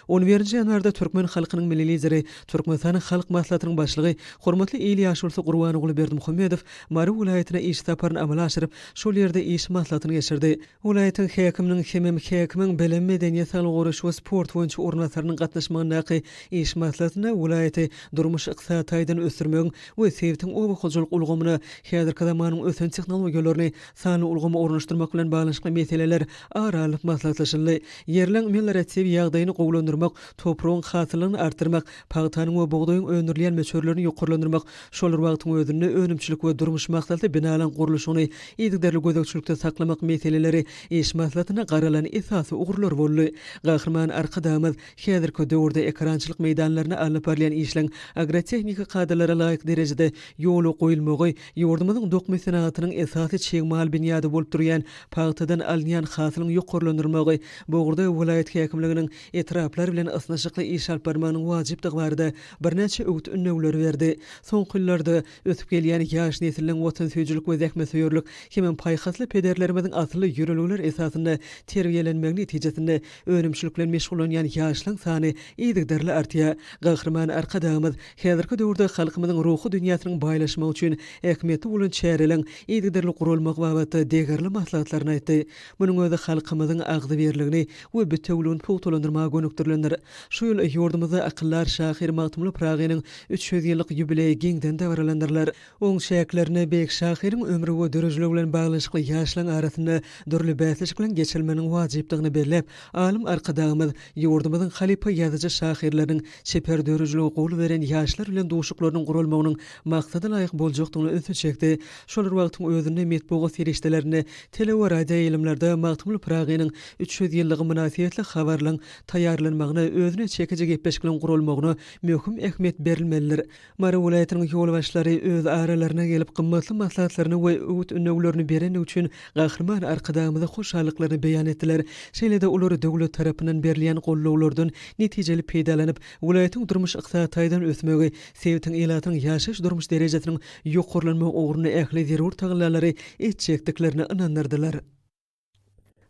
On birinji ýanwarda türkmen halkynyň Milli Lideri, Türkmenistanyň Halk Maslahatynyň Başlygy, hormatly il ýaşulysy Gurbanguly Berdimuhamedow Mary welaýatyna iş saparyny amala aşyryp, şol ýerde iş maslahatyny geçirdi. Welaýatyň häkiminiň hemem häkimiň bilim, medeniýet, saglygy goraýyş we sport boýunça orunbasarynyň gatnaşmagyndaky iş maslahatynda welaýaty durmuş-ykdysady taýdan ösdürmegiň we sebitiň oba hojalyk ulgamyna häzirki zamanyň ösen tehnologiýalaryny, sanly ulgamy ornaşdyrmak bilen baglanyşykly meseleler ara alyp maslahatlaşyldy. Ýerleň melioratiw ýagdaýyny gowulandyrmak, topragyň hasyllygyny artdyrmak, pagtanyň we bugdaýyň öndürilýän möçberlerini ýokarlandyrmak, şol bir wagtyň özünde önümçilik we durmuş maksatly binalaryň gurluşygyny yzygiderli gözegçilikde saklamak meseleleri iş maslahatynda garalan esasy ugurlar boldy. Gahryman Arkadagymyz häzirki döwürde ekerançylyk meýdanlarynda alnyp barylýan işleň agrotehniki kadalara laýyk derejede ýola goýulmagy, Ýurdumyzyň dokma senagatynyň esasy çig mal binýady bolup durýan pagtadan alynýan hasylyň ýokarlandyrylmagy bu ugurda welaýat häkimliginiň etraplar bilen ysnyşykly iş alyp barmagynyň wajypdygy barada birnäçe öwüt-ündewleri berdi. Soňky ýyllarda ösüp gelýän ýaş nesliň watansöýüjilik we zähmetsöýerlik hemem paýhasly pederlerimiziň asylly ýörelgeler esasynda terbiýelenmegi netijesinde önümçilik bilen meşgullanýan ýaşlaň sany yzygiderli artýar. Gahryman Arkadagymyz Häzirki döwürde halkymyzyň ruhy dünýäsiniň baýlaşmagy üçin ähmiýetli bolan çäreleriň yzygiderli guralmagy babatda degerli maslahatlaryny aýtdy. Munuň özi halkymyzyň agzybirligini we bitewüligini pugtalandyrmaga gönükdirilendir. Şu ýyl ýurdumyzda akyldar şahyr Magtymguly Pyragynyň üç ýüz ýyllyk ýubileýi giňden dabaralandyrylar. Oň çäklerinde beýik şahyryň ömri we dörejiligi bilen baglanyşykly ýaşlaryň arasynda dürli bäsleşikleň geçirilmeginiň wajypdygyny belläp, alym Arkadagymyz ýurdumyzyň halypa ýazyjy-şahyrlarynyň çeper dörejiligi gowy beren ýaşlar bilen duşuklarynyň guralmagynyň maksada laýyk boljakdygyna ünsi çekdi. Şol bir wagtyň özünde metbugat serişdelerinde, tele we radioýaýlymlarda Magtymguly Pyragynyň üç ýüz ýyllygy mynasybetli habarlaryň taýýarlanmagyna, özüne çekiji gepleşikleriň guralmagyna möhüm ähmiýet berilmelidir. Mary welaýatynyň ýolbaşçylary öz aralaryna gelip, gymmatly maslahatlaryny we öwüt-ündewlerini berendigi üçin Gahryman Arkadagymyza hoşallyklaryny beýan etdiler. Şeýle-de olar döwlet tarapyndan berilýän goldawlardan netijeli peýdalanyp, welaýatyň durmuş-ykdysady taýdan ösmegi, sebitiň ilatynyň ýaşaýyş-durmuş derejesiniň ýokarlanmagy ugrunda ähli zerur tagallalary etjekdiklerine ynandyrdylar.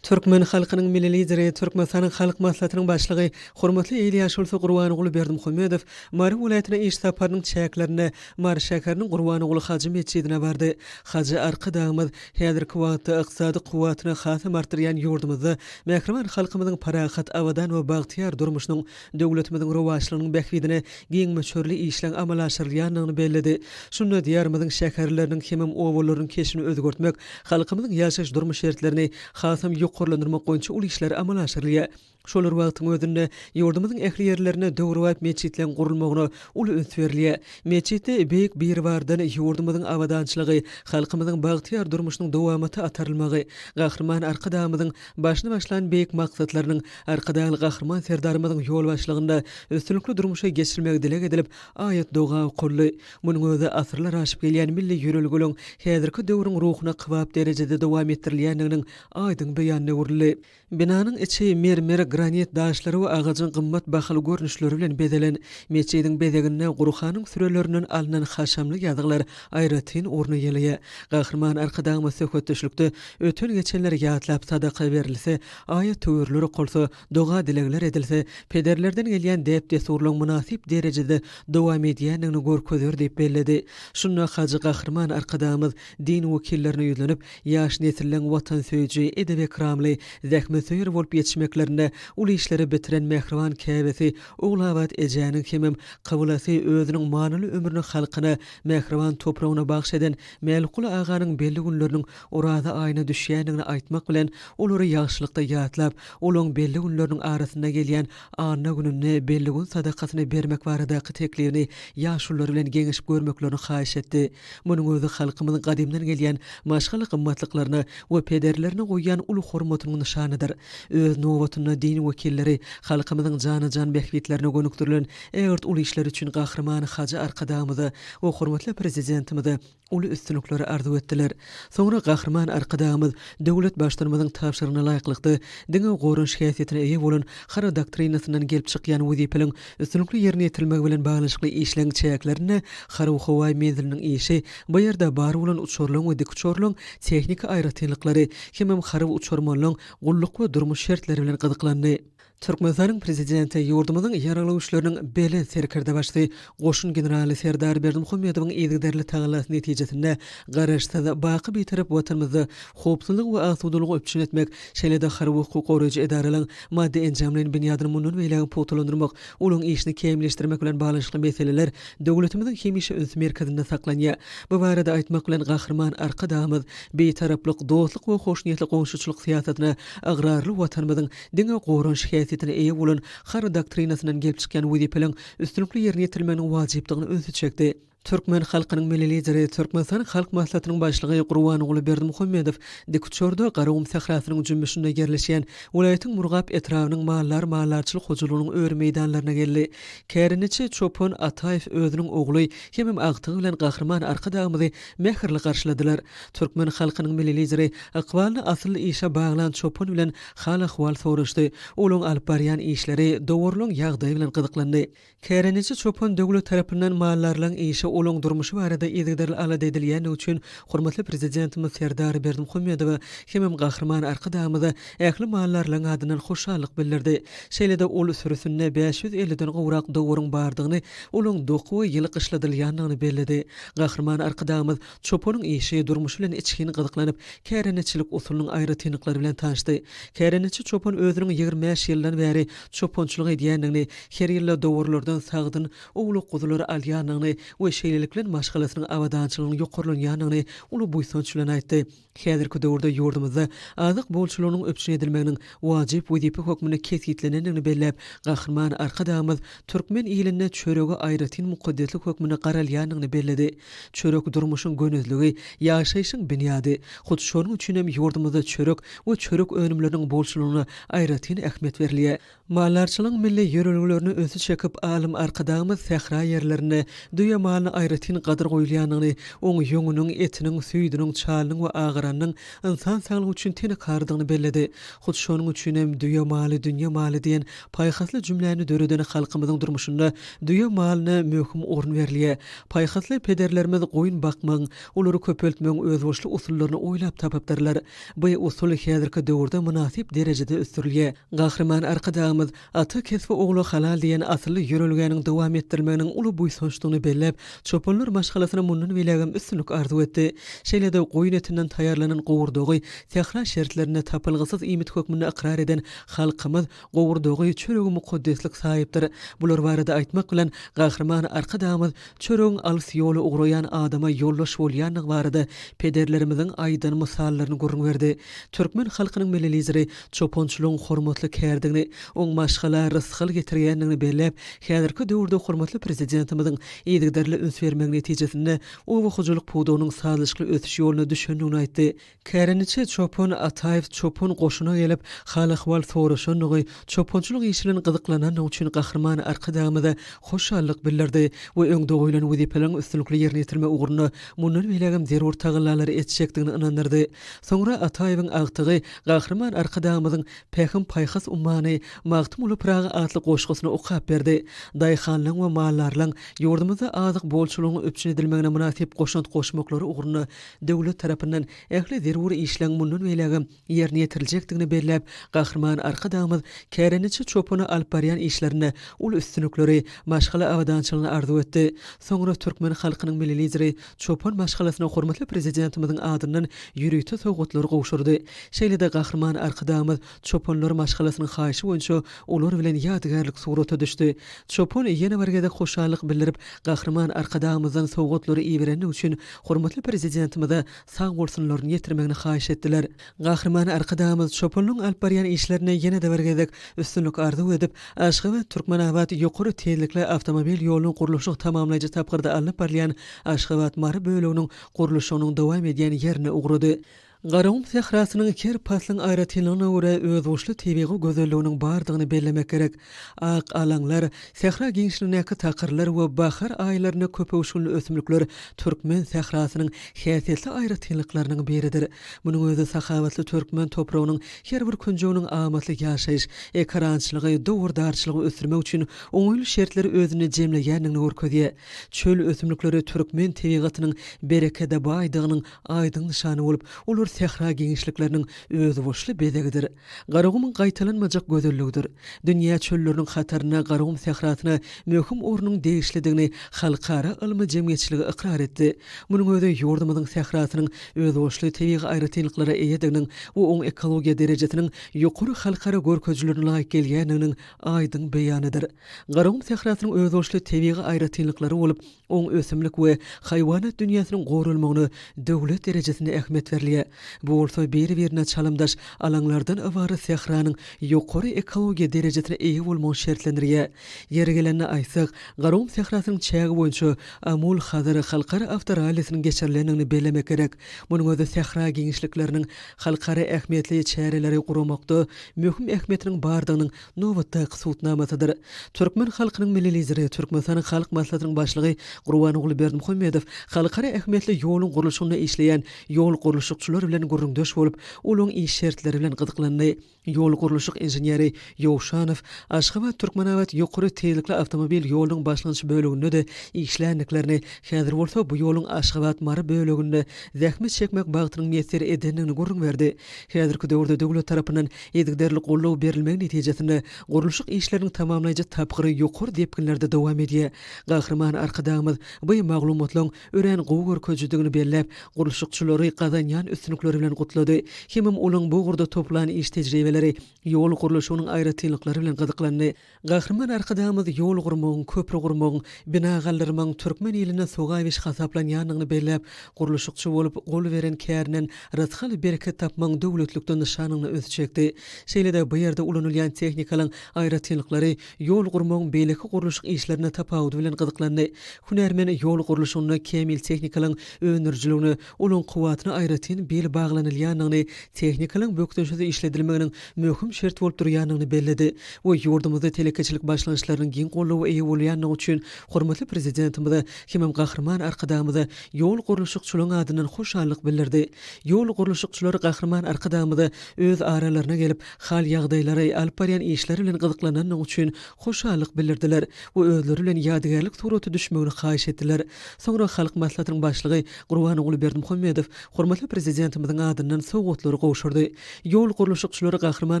Türkmen halkynyň Milli Lideri, Türkmenistanyň Halk Maslahatynyň Başlygy, hormatly il ýaşulysy Gurbanguly Berdimuhamedow Mary welaýatyna iş saparynyň çäklerinde Mary şäheriniň Gurbanguly hajy metjidine bardy. Hajy Arkadagymyz häzirki wagtda ykdysady kuwwatyny hasam artdyrýan ýurdumyzda mähriban halkymyzyň parahat, abadan we bagtyýar durmuşynyň döwletimiziň rowaçlygynyň bähbidine giň möçberli işleň amala aşyrylýandygyny belledi. Şunda Diýarymyzyň şäherleriniň hemem obalarynyň keşbini özgertmek, halkymyzyň ýaşaýyş-durmuş şertlerini hasam ýokarlandyrmak boýunça uly işler amala aşyrylýar. Şolar wagtyň özünde ýurdumyzyň ähli ýerlerinde döwrebap metjitleň gurulmagyna uly üns berilýär. Metjitde Beýik Biribardan ýurdumyzyň abadançylygy, halkymyzyň bagtyýar durmuşynyň dowamaty atarylmagy, Gahryman Arkadagymyzyň Başyny başlan beýik maksatlarynyň Arkadagly Gahryman Serdarymyzyň ýolbaşçylygynda üstünlikli durmuşa geçirilmegi dileg edilip, aýat-doga okaldy. Munuň özi asyrlar aşyp gelýän milli ýörelgeligiň häzirki döwrüň ruhuna kybap derejede dowam etdirilýändiginiň aýdyň beýanyna öwrüldi. Binanyň içi mermer, granit daşlary we agajyň gymmat bahaly görnüşleri bilen bezelen. Metjidiň bezeginde Gurhanyň sürelerinden alnan haşamly ýazgylar aýratyn orun eýeleýär. Gahryman Arkadagymyz söhbetdeşlikde öten-geçenleri ýatlap, sadaka berilse, aýat-töwirler okalsa, doga-dilegler edilse, pederlerden gelýän däp-dessurlaryň mynasyp derejede dowam edýändigini görkezer diýip belledi. Şunda Hajy Gahryman Arkadagymyz din wekillerine ýüzlenip, ýaş nesilleň watansöýüji, edep-ekramly, zähmetsöýer bolup ýetişmeklerinde uly işleri bitiren mähriban käbesi Ogulabat ejäniň hemem kyblasy özüniň manyly ömrüni halkyna, mähriban topragyna bagyş eden Mälikguly aganyň belli günleriniň Oraza aýyna düşýändigini aýtmak bilen, olary ýagşylykda ýatlap, olaň belli günleriniň arasynda gelýän anna gününde belli gün sadakasyny bermek baradaky teklibini ýaşulular bilen geňeşip görmeklerini haýyş etdi. Munuň özi halkymyzyň gadymdan gelýän maşgala gymmatlyklaryna we pederlerine goýýan uly hormatynyň nyşanydyr. Öz nobatynda din wekilleri halkymyzyň jana-jan bähbitlerine gönükdirilen ägirt uly işleri üçin Gahryman Hajy Arkadagymyza we hormatly Prezidentimize uly üstünlikleri arzuw etdiler. Soňra Gahryman Arkadagymyz döwlet Baştutanymyzyň tabşyrygyna laýyklykda, diňe goranyş häsiýetine eýe bolan Hara doktrinasyndan gelip çykýan wezipeliň Üstünlikli ýerine ýetirilmegi bilen baglanyşykly işleň çäklerinde harby-howaý menziliniň işi, bu ýerde bar bolan uçarlaň we dikuçarlaň tehniki aýratynlyklary hemem harby uçarmanlaň gulluk we durmuş şertleri bilen gyzyklandy. Türkmenistanyň Prezidenti ýurdumyzyň Ýaragly Güýçleriniň Belent Serkerdebaşysy goşun generaly Serdar Berdimuhamedowyň yzygiderli tagallasy netijesinde Garaşsyz, baky Bitarap Watanymyzda howpsuzlygy we asudalygy üpjün etmek, Şeýle-de harby hukuk goraýjy edaralaryň maddy-enjamlaýyn binýadyny mundan beýlägem pugtalandyrmak, olaryň işini kämilleşdirmek bilen baglanyşykly meseleler döwletimiziň hemişe üns merkezinde saklanýar. Bu barada aýtmak bilen, Gahryman Arkadagymyz Bitaraplyk, dostluk we hoşniýetli goňşuçylyk syýasatyna ygrarly Watanymyzyň diňe goranyş häsiýetine eýe bolan Harby doktrinasyndan gelip çykýan wezipeleriň üstünlikli ýerine ýetirilmeginiň wajypdygyna ünsi çekdi. Türkmen halkynyň Milli Lideri, Türkmenistan Halk Maslahatynyň Başlygy Gurbanguly Berdimuhamedow dikuçarda Garagum sährasynyň jümmüşinde ýerleşýän welaýatyň Murgap etrabynyň mallar mallarçylyk hojalygynyň öri meýdanlaryna geldi. Kärendeçi çopan Ataýew özüniň ogly hemem agtygy bilen Gahryman Arkadagymyzy mähirli garşyladylar. Türkmen halkynyň Milli Lideri ykbalyny asylly işe baglan çopan bilen hal-ahwal soraşdy, olaryň alyp barýan işleri, dowarlaryň ýagdaýy bilen gyzyklandy. Kärendeçi çopan döwlet tarapyndan mallarylaryň işi, olaryň durmuşy barada yzygiderli alada edilýändigi üçin hormatly Prezidentimiz Serdar Berdimuhamedowa hemem Gahryman Arkadagymyza ähli mallarylaryň adyndan hoşallyk bildirdi. Şeýle-de ol sürüsinde bäş ýüz ellidan gowrak dowaryň bardygyny, olaryň doku we ýyly gyşladylýandygyny belledi. Gahryman Arkadagymyz Çopanyň işi, durmuşy bilen içgin gyzyklanyp, kärendeçilik usulynyň aýratynlyklary bilen tanşdy. Kärendeçi çopan özüniň ýigrimi bäş ýyldan bäri çopançylyk edýändigini, her ýylda dowurlardan sagdyn, owlak guzulary alýandygyny we şeýlelik bilen maşgalasynyň abadançylygynyň ýokarlanýandygyny uly buýsanç bilen aýtdy. Häzirki döwürde ýurdumyzda azyk bolçulygynyň üpjün edilmeginiň wajyp wezipe hökmünde kesgitlenendigini belläp, Gahryman Arkadagymyz türkmen ilinde çörege aýratyn mukaddeslik hökmünde garalýandygyny belledi. Çörek durmuşyň gönezligi, ýaşaýşyň binýady. Hut şonuň üçin hem ýurdumyzda çörek we çörek önümleriniň bolçulygyna aýratyn ähmiýet berilýär. Maldarçylygyň milli ýörelgelerine ünsi çekip, alym Arkadagymyz sähra ýerlerinde düýe malyna aýratyn gadyr goýulýandygyny, oň ýüňüniň, etiniň, süýdüniň, çalynyň we agaranynyň ynsan saglygy üçin tenekarydygyny belledi. Hut şonuň üçin hem Düýe maly, dünýe maly diýen paýhasly jümläni döreden halkymyzyň durmuşynda düýe malyna möhüm orun berilýär. Paýhasly pederlerimiz goýun bakmagyň, olary köpeltmegiň özboluşly usullaryny oýlap tapypdyrlar. Bu usul häzirki döwürde mynasyp derejede ösdürilýär. Gahryman Arkadagymyz Ata kesbi ogla halal diýen asylly ýörelgäniň dowam etdirilmeginiň uly buýsançdygyny belläp, çopanlar maşgalasyna mundan beýlägem üstünlik arzuw etdi. Şeýle-de goýun etinden taýýarlanan gowurdagy sähra şertlerinde tapylgysyz iýmit hökmünde ykrar eden halkymyz Gowurdagy çöregiň mukaddeslik saýypdyr. Bular barada aýtmak bilen, Gahryman Arkadagymyz çöregiň alys ýola ugraýan adama ýoldaş bolýandygy barada pederlerimiziň aýdan mysallaryny gürrüň berdi. Türkmen halkynyň Milli Lideri çopançylygyň hormatly kärdigini, oň maşgala rysgal getirýändigini belläp, häzirki döwürde hormatly Prezidentimiziň yzygiderli üns bermegi netijesinde oba hojalyk pudagynyň sazlaşykly ösüş ýoluna düşendigini aýtdy. Kärendeçi çopan Ataýew çopan goşuna gelip, hal-ahwal soraşandygy, çopançylyk işi bilen gyzyklanandygy üçin Gahryman Arkadagymyza hoşallyk bildirdi we öňde goýlan wezipeleriň üstünlikli ýerine ýetirme ugrunda mundan beýlägem zerur tagallalary etjekdigini ynandyrdy. Soňra Ataýewiň agtygy Gahryman Arkadagymyzyň Pähim-paýhas ummany Magtymguly Pyragy atly goşgusyny okap berdi. Daýhanlaryň we maldarlaryň ýurdumyzda azyk bolçulygyň üpjün edilmegine mynasyp goşant goşmaklary ugrunda döwlet tarapyndan ähli zerur işleň mundan beýlägem ýerine ýetiriljekdigini belläp, Gahryman Arkadagymyz kärendeçi çopana alyp barýan işlerinde uly üstünlikleri, maşgala abadançylygyny arzuw etdi. Soňra türkmen halkynyň Milli Lideri çopan maşgalasyna hormatly Prezidentimiziň adyndan ýörite sowgatlary gowşurdy. Şeýle-de Gahryman Arkadagymyz Çopanlar maşgalasynyň haýyşy boýunça olar bilen ýadygärlik surata düşdi. Çopan ýene bir gezek hoşallyk bildirip, Gahryman Arkadagymyzdan sowgatlary iberenligi üçin hormatly Prezidentimize sag bolsunlaryny ýetirmegini haýyş etdiler. Gahryman Arkadagymyz Çopanyň alyp barýan işlerine ýene-de bir gezek üstünlik arzuw edip, Aşgabat, Türkmenabat ýokary tizlikli awtomobil ýolunyň gurluşyk tamamlaýjy tapgyrda alnyp barylýan Aşgabat, Mary böleginiň gurluşygynyň dowam edýän ýerine ugrady. Garagum sährasynyň her paslyň aýratynlygyna görä özboluşly tebigy gözelliginiň bardygyny bellemek gerek. Ak alaňlar, sähra giňişligindäki takyrlar we bahar aýlarynda köpöwüşginli ösümlikler türkmen sährasynyň häsiýetli aýratynlyklarynyň biridir. Munuň özi sahawatly türkmen topragynyň her bir künjeginiň amatly ýaşaýyş, ekerançylygy, dowardarçylygy ösdürmek üçin oňaýly şertleri özünde jemleýändigini görkezýär. Çöl ösümlikleri türkmen tebigatynyň berekede baýdygynyň aýdyň nyşany bolup, olar sähra giňişlikleriniň özboluşly bezegidir. Garagumyň gaýtalanmajak gözelligidir. Dünýä çölleriniň hatarynda Garagum sährasyna möhüm ornuň degişlidigini halkara ylmy jemgyýetçiligi ykrar etdi. Munuň özi ýurdumyzyň sährasynyň özboluşly tebigy aýratynlyklara eýediginiň we oň ekologiýa derejesiniň ýokary halkara görkezijilerine laýyk gelýändiginiň aýdyň beýanydyr. Garagum sährasynyň özboluşly tebigy aýratynlyklary bolup, Oň ösümlik we haýwanat dünýäsiniň goralmagyna döwlet derejesinde ähmiýet berilýär. Bu bolsa biri-birine çalymdaş alaňlardan ybarat sähranyň ýokary ekologiýa derejesine eýe bolmagyny şertlendirýär. Ýeri gelende aýtsak, Garagum sährasynyň çägi boýunça Amul Hazar halkara awtorallisiniň geçirilendigini bellemek gerek. Munuň özi sähra giňişlikleriniň halkara ähmiýetli çäreleri guramakda möhüm ähmiýetiniň bardygynyň nobatdaky sud namasydyr. Türkmen halkynyň Milli Lideri, Türkmenistanyň Halk Maslahatynyň Başlygy Gurbanguly Berdimuhamedow halkara ähmiýetli ýoluň gurluşygynda işleýän ýol gurluşykçylary bilen gürrüňdeş bolup, ulagyň iş şertleri bilen gyzyklandy. Ýol gurluşyk inženeri Ýowşanow Aşgabat-Türkmenabat ýokary tizlikli awtomobil ýolunyň başlanýyş böleginde-de işländiklerini, häzir bolsa bu ýoluň Aşgabat-Mary böleginde zähmet çekmek bagtynyň miýesser edendigini gürrüň berdi. Häzirki döwürde döwlet tarapyndan yzygiderli goldaw berilmegi netijesinde gurluşyk işleriniň tamamlaýjy tapgyry ýokary depginlerde dowam edýär. Gahryman Arkadagymyz bu maglumatlaryň örän gowy görkezijidigini belläp, gurluşykçylary gazanýan üstünlikleri bilen gutlady. Hemem olaryň bu ugurda toplan iş tejribeleri, ýol gurluşygynyň aýratynlyklary bilen gyzyklandy. Gahryman Arkadagymyz ýol gurmagyň, köpri gurmagyň, bina galdyrmagyň türkmen iline sogap iş hasaplanýandygyny belläp, gurluşykçy bolup, gol beren kärinden rysgal-bereket tapmagyň döwletlikden nyşanyna ünsi çekdi. Şeýle-de bu ýerde ulanylýan tehnikalaryň aýratynlyklary ýol gurmagyň beýleki gurluşyk işlerine tapawudy bilen gyzyklandy. Hünärmen ýol gurluşygynda kämil tehnikalaryň öndürijiligine Onuň kuwwatyna aýratyn bil baglanylýandygyny, tehnikalyň bökdençsiz işledilmeginiň möhüm şert bolup durýandygyny belledi we ýurdumyzda telekeçilik başlangyçlarynyň giň goldawa eýe bolýandygy üçin hormatly Prezidentimize hemem Gahryman Arkadagymyza ýol gurluşykçylaryň adyndan hoşallyk bildirdi. Ýol gurluşykçylar Gahryman Arkadagymyza öz aralaryna gelip, hal-ýagdaýlary, alyp barýan işleri bilen gyzyklanandygy üçin hoşallyk bildirdiler we özleri bilen ýadygärlik suraty düşmegini haýyş etdiler. Soňra Halk Maslahatynyň Başlygy Gurbanguly Berdimuhamedow hormatly Prezidentimiziň adyndan sowgatlary gowşurdy. Ýol gurluşykçylary Gahryman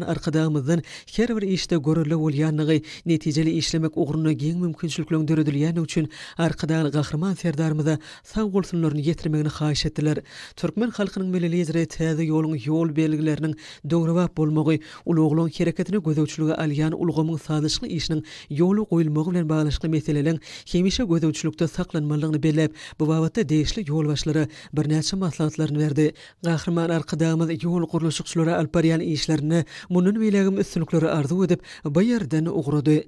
Arkadagymyzdan her bir işde görelde bolýandygy, netijeli işlemek ugrunda giň mümkinçilikleriň döredilýändigi üçin Arkadagly Gahryman Serdarymyza sag bolsunlaryny ýetirmegini haýyş etdiler. Türkmen halkynyň Milli Lideri täze ýoluň ýol belgileriniň döwrebap bolmagy, ulaglaryň hereketini gözegçilige alýan ulgamyň sazlaşykly işiniň ýola goýulmagy bilen baglanyşykly meseleleň hemişe gözegçilikde saklanmalydygyny belläp, bu babatda degişli ýolbaşçylara birnäçe maslahatlaryny berdi. Gahryman Arkadagymyz ýol gurluşykçylara alyp barýan işlerinde mundan beýlägem üstünlikleri arzuw edip, bu ýerden ugrady.